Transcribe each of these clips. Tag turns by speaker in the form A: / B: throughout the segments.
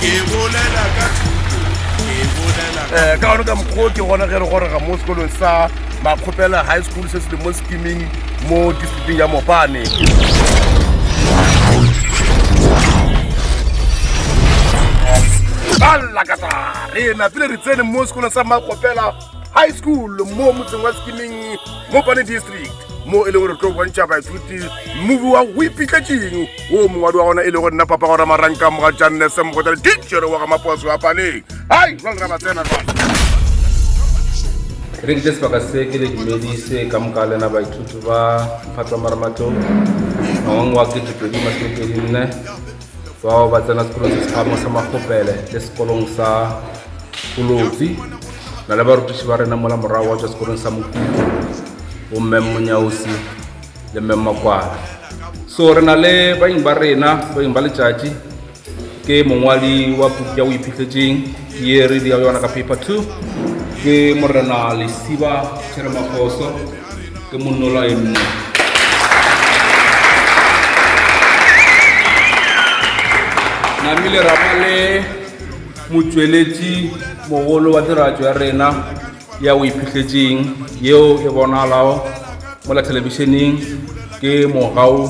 A: Ke bolela ka thuto, ke bolela ka... Eh, ka gone ka mokgwa ke gona ge re gorega mo sekolong sa Makgopela High School se se le mo sekiming mo districting ya Mopane. Ba lakatsa re napile re tsene mo sekolong sa Makgopela high school mo motseng wa sekimeng mo pane district mo e leng gore tlo bontšha baithuti movi wa go ipitlatseng o mongwadi wa gona e le go nna papa gora maranka moga jannese mogotale tichere wa ga maposo wa paneng hai jwale ra ba tsena jwale
B: re dile sebaka se ke le dumedise ka moka lena baithuti ba mphatswa maramatlong ngwang wa ketetlodi masomepedi nne bao ba tsena sekolong se sephamo sa makgopele le sekolong sa kolotsi na le barutiši ba rena mola morago wa tswa sekolong sa mokutlo bomme monyaosi le mme makwala so re na le baeng ba rena baeng ba letšatši ke mongwali wa puku ya o iphitletseng ye re di yona ka paper two ke morena lesiba tšheremafoso ke monnolwae mmogo. Namile ra ba le motšweletši mogolo wa tiragatšo ya rena ya o iphihletseng yeo e bonalago mola thelebišeneng ke mogau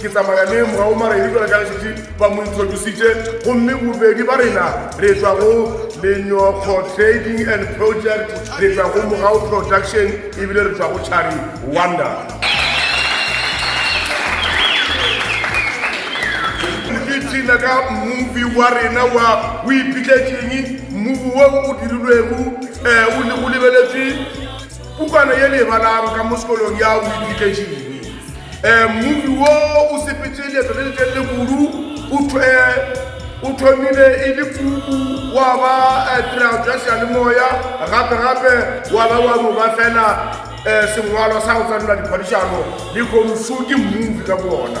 A: Ke tsamaya le Mrao Maredi jwale ka letšatši ba mo introducitše, gomme bobedi ba rena re tšwa go Lenyokgo Trading and Project, re tšwa go Mrao Production ebile re tšwa go Chari Wonder. Tina ka movie wa rena wa o ipitletšeng movie wo o dirilwego eh, o lebeletše Pukwana ye le e balang ka mo sekolong ya o ipitletšeng. Um mmupi wo o sepetse leeto le letelele kudu o thwe o thomile e le puku wa ba eh, tirago tša seyalemoya gape gape wa ba wa no ba fela um sengwalwa sa go tsenela diphadišano le komsu ke mmupi ka boona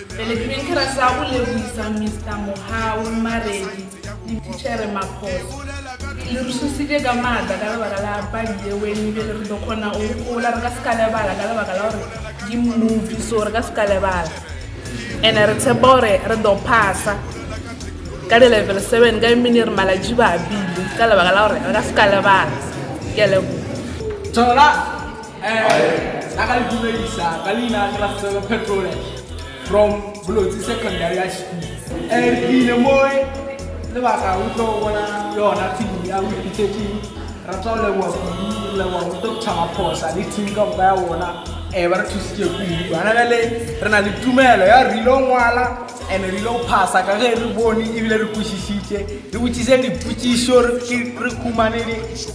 C: Pele ke beng ke rata go leboisa Mister Mohau, Maredi le Tichere Maphosa. Le re šusitše ka maatla ka lebaka la padi ye wen e bile re tlo kgona go gopola re ka se ka lebala ka lebaka la gore ke movie so re ka se ka lebala ene re tshepa gore re tlo phasa ka di-level seven ka emene re malatši ba bile ka lebaka la gore re ka se ka lebala ke lebo Thola!
D: a ka le dumedisa ka leina ke la sebe phetole from bolotsi secondary ya school um re tlile moe lebaka o tlo bona yona fimo ya o ipitetseng ra tla o leboa kudu re leboa o tlo thaba phosa le team ka boka ya bona um ba re thusitse kudu gona bjale re na le tumelo ya re ile ngwala and re ile go phasa ka ge re bone ebile re kwešišitše re botsise dipotsišo re humane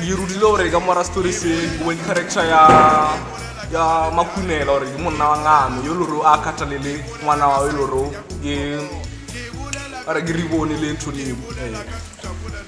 E: dirudile gore ka mora story se boeng character ya ya makunela gore ke monna wa ngame yo lore a kgathalele ngwana wa e lore ke re ke ribone le ntho leo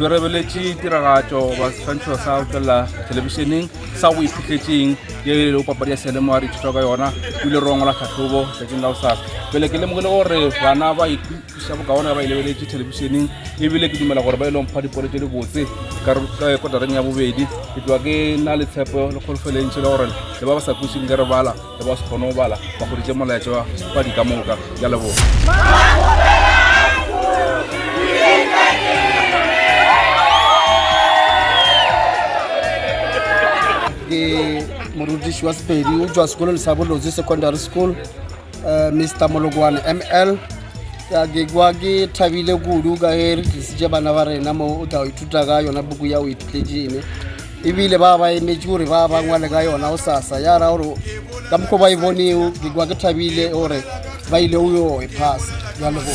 B: Re rebeletše tiragatšo goba seswantšho sa go tšwelela thelebišeneng sa go iphutletšeng ye e lego papadi ya seyalemoya re ithuta ka yona ebile re ongola tlhatlhobo tšatšing la gosasa pele ke lemoge le gore bana ba ithuša bokaone ba e lebeletše thelebišeneng ebile ke dumela gore ba e leng mpha dipolo tše di botse ka kotareng ya bobedi ke tloa ke na le tshepo le kgolofelentšhe le gore le ba ba sa kwešinkere bala le ba se kgone go bala ba kgoditše molaetša wa padi ka moka ya leboga
F: ke morutiši wa sepedi o tswa sekolong sa bolotse secondary school uh, mr molokwane ml ya ke kwa ke thabile kudu ka ge re tlisitše bana ba rena mo o tla ithuta ka yona buku ya o iphitletse ene ebile ba ba emetše gore ba ba ngwale ka yona go sasa ya ra gore ka mokgwa ba e bonego ke kwa ke thabile gore ba ile o yo e phasa ya leboa